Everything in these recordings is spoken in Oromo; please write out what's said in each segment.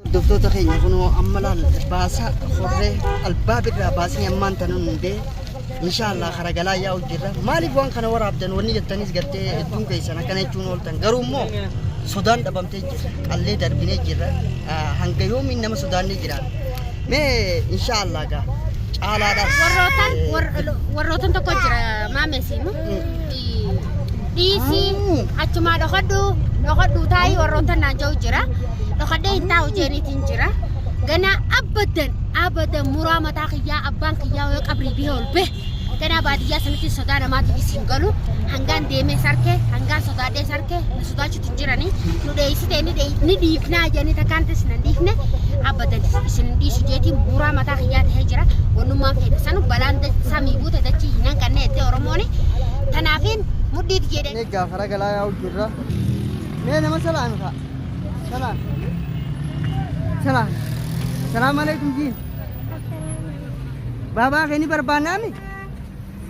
Hordoftoota keenya kunoo amma laal baasa horree albaa birraa baasni ammaan tana hundee inshaallah kara galaa yaa'u jirra maaliif waan kana waraabdan wanni jettanis gartee hedduun keessan akkana jechuun ooltan garuu immoo sodaan dhabamtee jirra qallee darbinee jirra Ah, hanga yoomiin nama sodaannee jiraan mee inshaallah gaa caalaadhaas warrootan eh, warrootan tokko jira maamee siimu dhiisii achumaa dhokadhu dhokadhu taa'ii warroota naan ja'u jira dhokadhee hin taa'u jeeniitiin jira ganaa abadan abadan muraa mataa kiyyaa abbaan kiyyaa yoo qabrii bihee ol bee ganaa baadiyyaa sanitti sodaa namaatiif isin galu hangaan deemee sarkee hangaan sodaadhee sarkee na sodaachu hin jirani nu dheeysitee ni dhee- ni dhiifnaa jedhanii takkaan ta'e isin hin dhiifne abadan isin hin dhiisu jeetiin buuraa mataa kiyyaa ta'ee jira wannummaan feete sanu balaan da- samii buute dachii hin hanqanne jettee oromooni tanaafiin mudhiit jedhe Mee gaafa ragalaa yaa'u jirra. Mee nama salaami fa'a. Salaam. Salaam. Salaam alaikum jiin. Baabaa kee ni barbaannaami?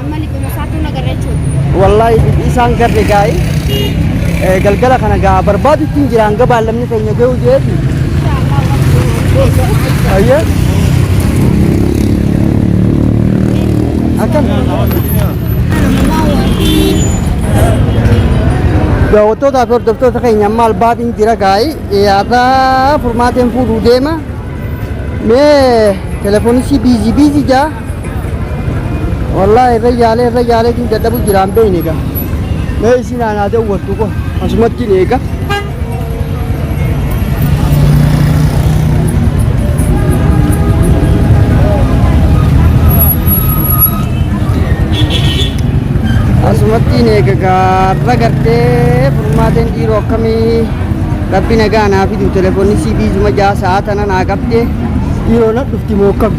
Amma liquma isaatu na garra jechuudha. Wallaahi bifti isaan garre gaa'i. Eh, Galgala kana gaa barbaadu ittiin jira hanga baallamni keenya ga'u jeeti. Ayyee. Akkam. Daawwattootaa fi hordoftoota keenya amma albaatiin jira gaa'i. Yaadaa furmaateen fuudhuu deema. Mee telefoonisi biizii biizii jaa. Wallaahi irra yaalee irra yaalee tiin dadhabu jiraan beeyne egaa. Mee isin aanaa daawwattu koo asumatti hin eega. Asumatti hin eega gaarra gartee furmaateen dhiiroo akkamii rabbi nagaa naa fidu telefoonni sii biizuma jaa sa'a tana naa qabdee dhiiroo na dhufti moo akkami.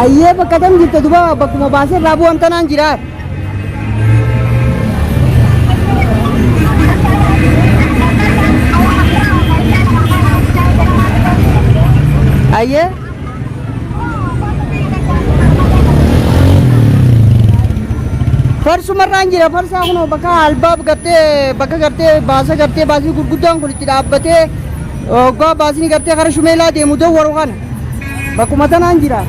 Ayyee bakka kam jirta duba bakkuma baasee irraa bu'an tanaan jira. Ayyee. farsumarraan jira farsaa kunoo bakka albaab gartee bakka gartee baasa gartee baasii gurguddaan kun itti dhaabbatee oggaa baasni gartee kara shumeelaa deemu dawwaru kana bakkuma tanaan jira.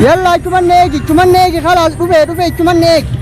Yalla achuman eegi achuman eegi kalaas dhufee dhufee achuman eegi.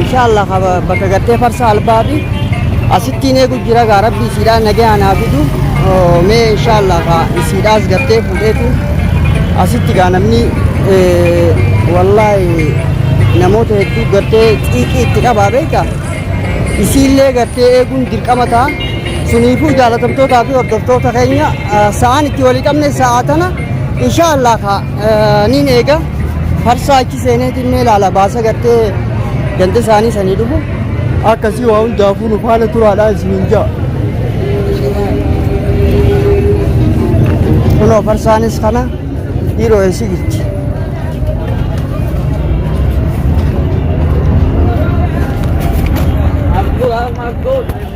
inshallah ka bakka gartee farsa albaabi asittiin eegu jira gaa rabbi isiidhaa nagayaa naa fidu Oh, mee inshallah ka isiidhaas gartee fuudheetu asitti gaa namni eh, wallaahi namoota hedduu gartee xiiqii itti qabaa beeka isiillee gartee eeguun dirqama ta'a suniifuu jaalatamtootaa fi hordoftoota keenya eh, sa'aan itti walii qabne sa'aa tana inshallah ka eh, niin eega farsaa achi Seeneetiin mee ilaala baasa gartee ganda isaanii sanii dhufu akkasii waa hundaafuu nu faana turaadhaa isiniin ja'a. Kunoo farsaanis kana dhiiroo eessi gitti.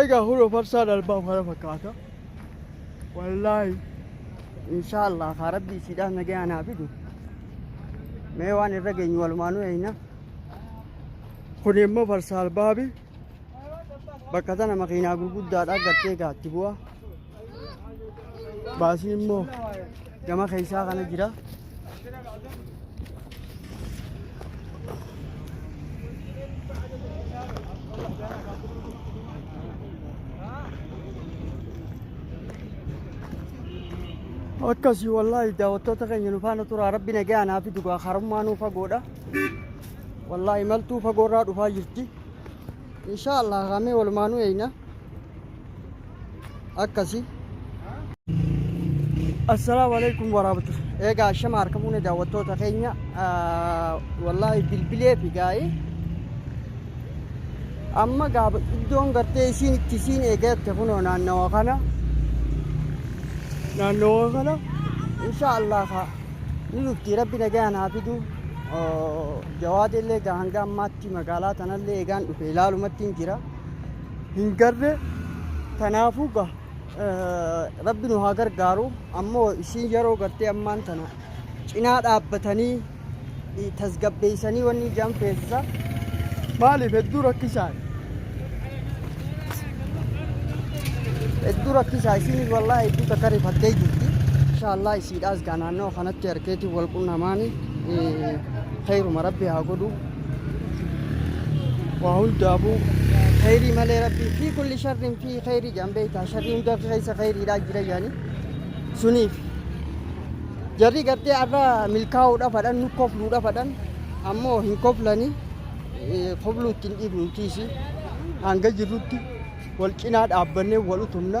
Egaa huroo farsaan albaaf kana fakkaata. Wallaahi. Inshaa Allah haa rabbi isiidhaan nagayaan haa fidu. Mee waan irra geenyu walumaanuu eeyna. Kun immoo farsaa albaabi. Bakka tana makiinaa gurguddaadhaa gattee gaatti bu'a. Baasii immoo gama keessaa kana jira. Akkasii wallaahi daawwattoota keenya nu faana turaa rabbi nagaa naa fi dhugaa karummaa nuu fagoodha. Wallaahi maltuu fagoorraa dhufaa jirti. Inshaa Allah kaamee walumaanuu eeyna akkasi. Assalaamu alaikum waraabatu. Eegaa shama harka fuune daawwattoota keenya wallaahi bilbilee fi gaa'ee amma gaaba iddoon gartee isiin itti isiin eegatte kunoo naannawa kana naannawa kana inshaa Allah kaa ni dhufti rabbi nagaan haa fiduu. Jawaadillee egaa hanga ammaatti magaalaa tanallee egaan dhufe ilaalumattiin jira. Hin garre tanaafuu ga rabbi nu haa gargaaru ammoo isiin yeroo gartee ammaan tana cinaa dhaabbatanii tasgabbeessanii wanni ijaan feesisa maaliif hedduu rakkisaan hedduu rakkisaa isiinis wallaa hedduu takka rifattee jirti. Inshallah isiidhaas gaa naannoo kanatti harkeetiin wal qunnamaanii. Khayruma rabbi haa godhu. Waa hundaafuu khayrii malee rabbi fi kulli sharrin fi khayrii jedhan beektaa sharrii hundaa fi keessa khayriidhaa jira jedhanii suniif jarri gartee arra milkaa'uudhaaf hadhan nu kofluudhaaf hadhan ammoo hin koflanii eh, kofluu ittiin dhiifnu tiisi hanga jirrutti wal cinaa dhaabbannee wal utumna.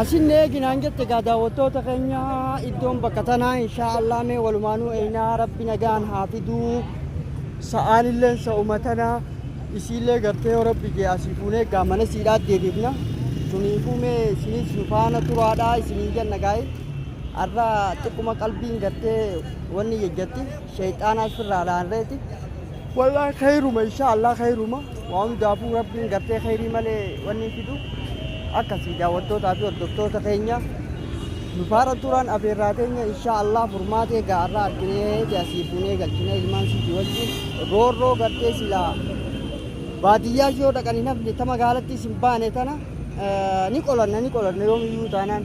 Asin eeginaan jette egaa daawwattoota keenya iddoon bakka tanaa inshaa Allah mee walumaanuu eeynaa rabbi nagaan haa fiduu sa'aan illee sa'uma tanaa isiillee gartee yoo rabbi jee asii fuunee egaa mana siidhaa deebiifna suniifuu mee isinis nu faana turaadhaa isiniin jenna gaa'e har'a xiqquma qalbiin gartee wanni jejjatti Sheyxaanaas firraa dhaanreeti. Wallaahi kheyruma inshaa Allah kheyruma waa hundaafuu rabbiin gartee kheyrii malee wanni fidu akkasii daawwattootaa fi hordoftoota keenya nu faara turaan afeerraa teenya inshaa Allah furmaata egaa irraa arginee ti asii fuunee galchina ilmaan siiti wajjin roorroo gartee silaa baadiyyaa yoo dhaqan hin hafne ta magaalattis hin baane tana eh, ni qolanna ni qolanna yoomiyyuu taanaan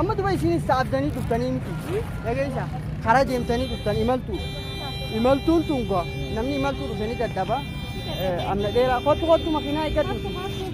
amma duba isinis saabdanii dhuftanii miti dhageessa karaa deemtanii dhuftan imaltu imaltuun tun gaa namni imaltuu dhufe ni dadhaba amna dheeraa kottu kottu makiinaa eeggadhu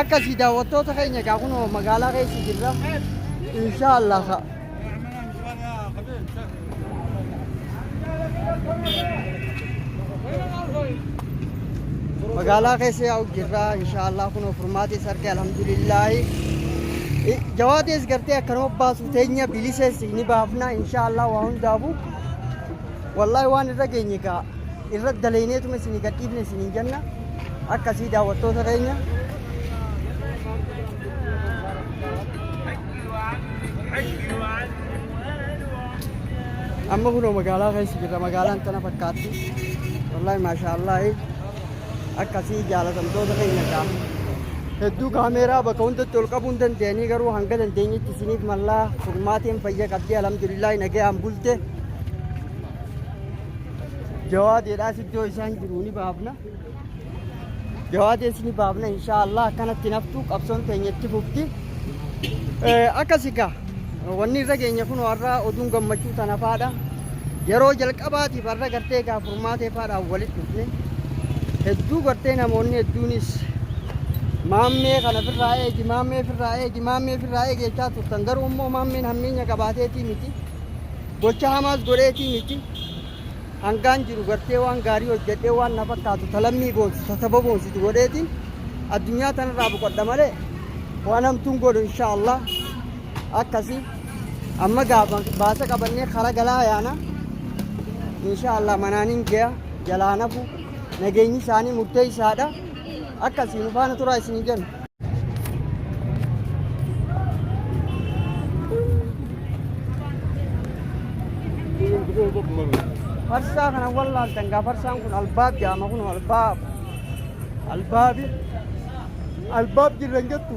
akkasii daawwattoota keenya egaa kun magaalaa keessa jirra insha allah ka magaalaa keessa yaa'u jirra insha allah kun furmaatis arge alhamdulillaahi I- jawaatis gartee akkanuma baasu teenya bilisees ni baafna insha allah waa hundaafu wallaahi waan irra geenye gaa irratti daleyneetuma isinii gadhiifne isiniin jenna akkasii daawwattoota keenya. amma kunoo magaalaa keessa jirra magaalaan tana fakkaatti wallaahi maashaallahi akkasii jaalatamtoota keenya gaa hedduu kaameeraa bakka hundatti ol qabuu hin dandeenyee garuu hanga dandeenyetti isiniif mallaa furmaateen fayya qabdee alhamdulillahi nagayaan bulte jawaadeedhaas iddoo isaan jiru ni baafna jawaadees ni baafna inshaallah akkanatti naftu qabsoon teenya itti fufti Eh, akkasi gaa wanni irra geenya kun warra oduun gammachuu tana faadha yeroo jalqabaatiif warra gartee gaa furmaatee faadhaan walitti dhufne hedduu gartee namoonni hedduunis maammee kana firraa eegi maammee firraa eegi maammee firraa eegi jechaa turtan garuu immoo maammeen hammeenya qabaateetii miti Gocha hamaas godheetii miti. Hangaan jiru gartee waan gaarii hojjedhee waan na fakkaatu ta lammii boonsu ta saba boonsitu godheetiin addunyaa tanarraa boqodha malee waan hamtuun godhu insha Allah akkasi amma gaafa baasa qabannee kara galaa yaana insha Allah manaanin gaya jalaan hafu nageenyi isaanii murteessaadha. Akkasii nu faana turaa isinii jenna. Farsaa kana wallaaltan gaa farsaan kun albaab jaama kun albaab. Albaabi. Albaab jirran jettu.